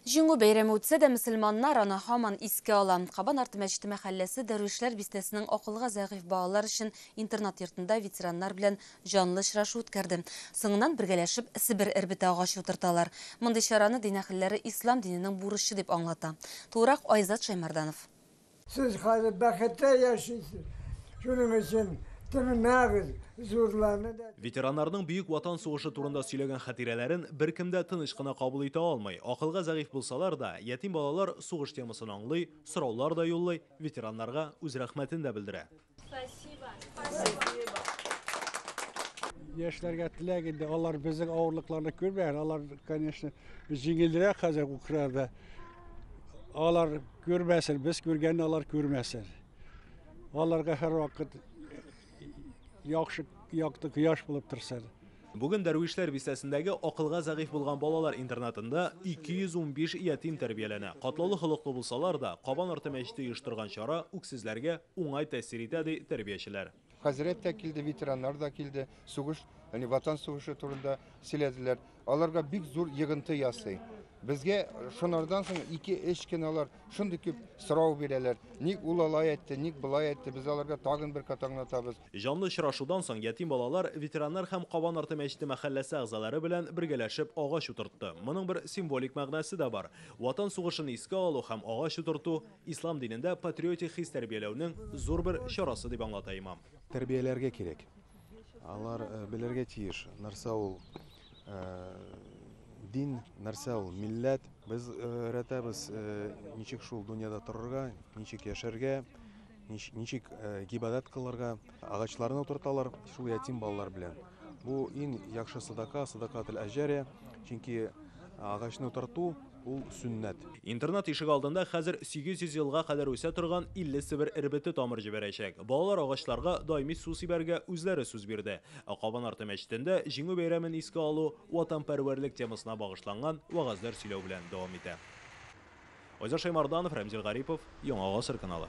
Җиңү бәйрәме үтсә дә, мөселманнар аны һаман искә ала. Кабан арты мәчете мәхәлләсе Дәрвишләр бистәсенең акылга зәгыйфь балалар өчен интернат йортында ветераннар белән җанлы очрашу үткәрде. Соңыннан бергәләшеп себер эрбете агачы утырталар. Мондый чараны дин әһелләре ислам диненең бурычы дип аңлата. Тулырак Айзат Шәймәрданов. Сез хәзер бәхеттә яшисез, шуның өчен тынмагыз, зурларны да. Ветераннарның Бөек Ватан сугышы турында сөйләгән хатирәләрен беркем дә тыныч кына кабул итә алмый. Акылга зәгыйфь булсалар да, ятим балалар сугыш темасын аңлый, сораулар да юллый, ветераннарга үз рәхмәтен дә белдерә. Яшьләргә теләк инде, алар безнең авырлыкларны күрмәгән, алар, конечно, җиңелрәк хәзер Украинада. Алар күрмәсен, без күргәнне алар күрмәсен. Аларга һәр вакыт яхшы якты кояш булып торсын. Бүген Дәрвишләр бистәсендәге акылга зәгыйфь булган балалар интернатында 215 ятим тәрбияләнә. Катлаулы холыклы булсалар да, Кабан арты мәчете оештырган чара үксезләргә, уңай тәэсир итә, ди тәрбиячеләр. Хәзрәт тә килде, ветераннар да килде, сугыш, яни Ватан сугышы турында сөйләделәр. Аларга бик зур йыгынты ясый. Безгә шунардан соң ике-өч кинолар шундый күп сорау бирәләр. Ник ул алай әйтте, ник болай әйтте, без аларга тагын бер кат аңлатабыз. Җанлы очрашудан соң ятим балалар ветераннар һәм Кабан арты мәчете мәхәлләсе әгъзалары белән бергәләшеп агач утыртты. Моның бер символик мәгънәсе дә бар. Ватан сугышын искә алу һәм агач утырту, Ислам динендә патриотик хис тәрбияләүнең зур бер чарасы, дип аңлата имам. Тәрбияләргә кирәк. Алар белергә тиеш, нәрсә ул дин, нәрсә ул милләт. Без өйрәтәбез, ничек шул дөньяда торырга, ничек яшәргә, ничек гыйбадәт кылырга. Агачларны утырталар шул ятим балалар белән. Бу иң яхшы садака, садакател әҗәрия. Чөнки агачны утырту, Ул сөннәт. Интернат ишек алдында хәзер 800 елга кадәр үсә торган 50 себер эрбете тамыр җибәрәчәк. Балалар агачларга даими су сибәргә үзләре сүз бирде. Ә Кабан арты мәчетендә Җиңү бәйрәмен искә алу, ватанпәрвәрлек темасына багышланган вәгазьләр сөйләү белән дәвам итә. Айза Шәймарданов, Рәмзил Гарипов, Яңа гасыр каналы.